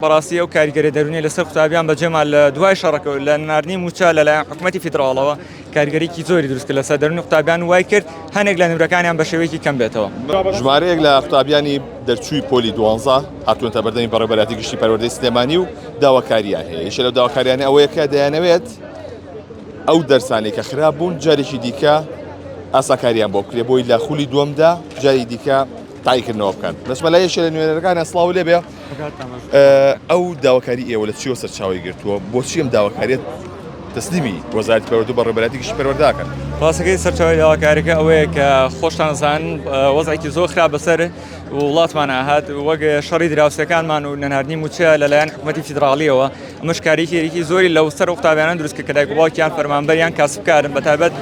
بەڕاستی ئەو کاریگەریە دەروونیە لەسەر قوتابیان بەجێما لە دوای شەڕەکەوە لە ناردنی مووچە لەلایەن حکومەتی فیدراڵەوە کاریگەریکی زۆری دروست کرد لەسەر دەروونی قوتابیان وای کرد هەنێک لە نمرەکانیان بە شێوەیەکی کەم بێتەوە. ژمارەیەک لە قوتابیانی دەرچووی پۆلی دوانزە هاتوونەتە بەردەمی بەڕێوەبەرایەتی گشتی پەروەردەی سلێمانی و داواکاریان هەیە یەکێ لەو داواکاریانە ئەوەیە کە دەیانەوێت ئەو دەرسانەی کە خراپ بوون جارێکی دیکە ئاساکاریان بۆ بکرێ بۆی لە خولی دووەمدا جاری دیکە تایکردنەوە بکەن بەسمەلایەشێ لە نوێنەرەکانە سڵاو لێبێ ئەو داواکاری ئێوە لە چیەوە سەرچاوی گرتووە بۆچی ئەم داواکاریت تەسلیمی وەزارت پەروەردە بە ڕێبەراتێکی پەروەرداکەن ڕاستەکەی سەرچاوی داواکاریەکە ئەوەیە کە خۆشتانزان وەزعێکی زۆر خراپ بەسەر وڵاتمان ئاهات وەک شەڕی دراوسەکانمان و نەناردنی موچە لەلایەن حکوومەتی فیدراالیەوە ئەمەش کاریکێکی زۆری لەو سەر قوتابیانە دروستکە کە دایکڵاکیان فەرمانبەریان کاسبکارن بەتابەت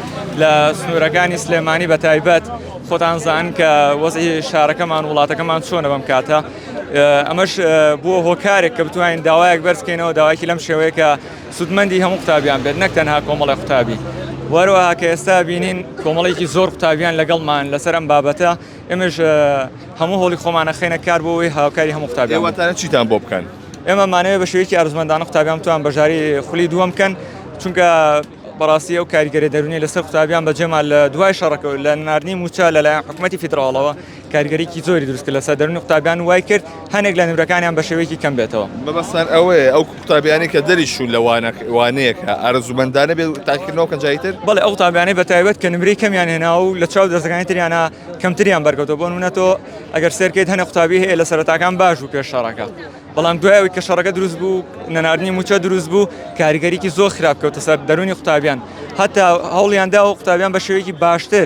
لە سنوورەکانی سلێمانی بەتایبەت خۆتانزان کە وەزی شارەکەمان وڵاتەکەمان چۆنە بەم کاتە ئەمەش بووە هۆکارێک کە بتوانین داوایەک بەرزکەینەوە داواکی لەم شێوەیە کە سوودمەندی هەموو قوتابیان بێت نەک تەنها کۆمەڵی قوتابی وەروەها کە ئێستا بینین کۆمەڵێکی زۆر قوتابیان لەگەڵمان لەسەر ئەم بابەتە ئێمەش هەموو هۆڵی خۆمانە خێنە کار بۆەوەی هاوکاری هەموو قوتابیان واتانە چیتان بۆ بکەن ئێمە مانەوە بە شێوەیەکی ئارزمەندانە قوتابیان توان بەژاری خولی دووەم بکەن چونکە بەڕاستی ئەو کاریگەری دەرونی لەسەر قوتابیان بەجێما لە دوای شەڕەکە لە ناردنی موچە لەلایەن حکوومەتتی فیدراڵەوە کاریگەریی زۆری دروست کرد لەسەر دەروونی قوتابیان و وای کرد هەنێک لە نمرەکانیان بە شێوەیەکی کەم بێتەوە. مەبەستمان ئەوەیە ئەو قوتابیانەی کە دەریچوون لە وانەیەکە ئارەزوومەندانە بێت و تاقیکردنەوە بکەن جای تر؟ بەڵێ، ئەو قوتابیانەی بەتایبەت کە نمرەی کەمیان هێناوە و لە چاو دەرسەکانی تریانا کەمتریان بەرکەوتووە، بۆ نموونە تۆ ئەگەر سەیر بکەیت هەنێک قوتابی هەیە لە سەرەتاکان باش بوو پێش شەڕەکە، بەڵام دوای ئەوەی کە شەڕەکە دروست بوو، نەناردنی مووچە دروست بوو، کاریگەریی زۆر خراپ کەوتە سەر دەروونی قوتابیان، هەتا هەوڵیان دا ئەو قوتابیان بە شێوەیەکی باشتر،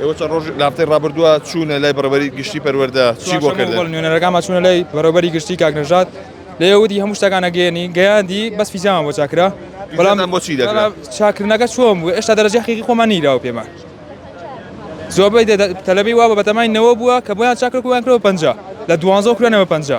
ئێوە چەند ڕۆژ لاپتەی ڕابردووە چوونە لای بەڕێوەبەری گشتی پەروەردە چی بۆ کردن؟ چوارشەممە نوێنەرەکانمان چوونە لای بەڕێوەبەری گشتی کاک نەژاد لێوەدی هەموو شتەکانە گەیەنی گەیاندی بەس فیزیامان بۆ چاکرا بەڵام بۆ چی دەکرا چاکردنەکە چۆن بوو ئێشتا دەرەجەی حەقیقی خۆمان نیراوە پێمان زۆربەی دە- دە- تەلەبەی وا بە بەتەمای نەوە بووە کە بۆیان چاکرد بۆیان کرەوە پەنجا لە دوانزە و کرانەوە پەنجا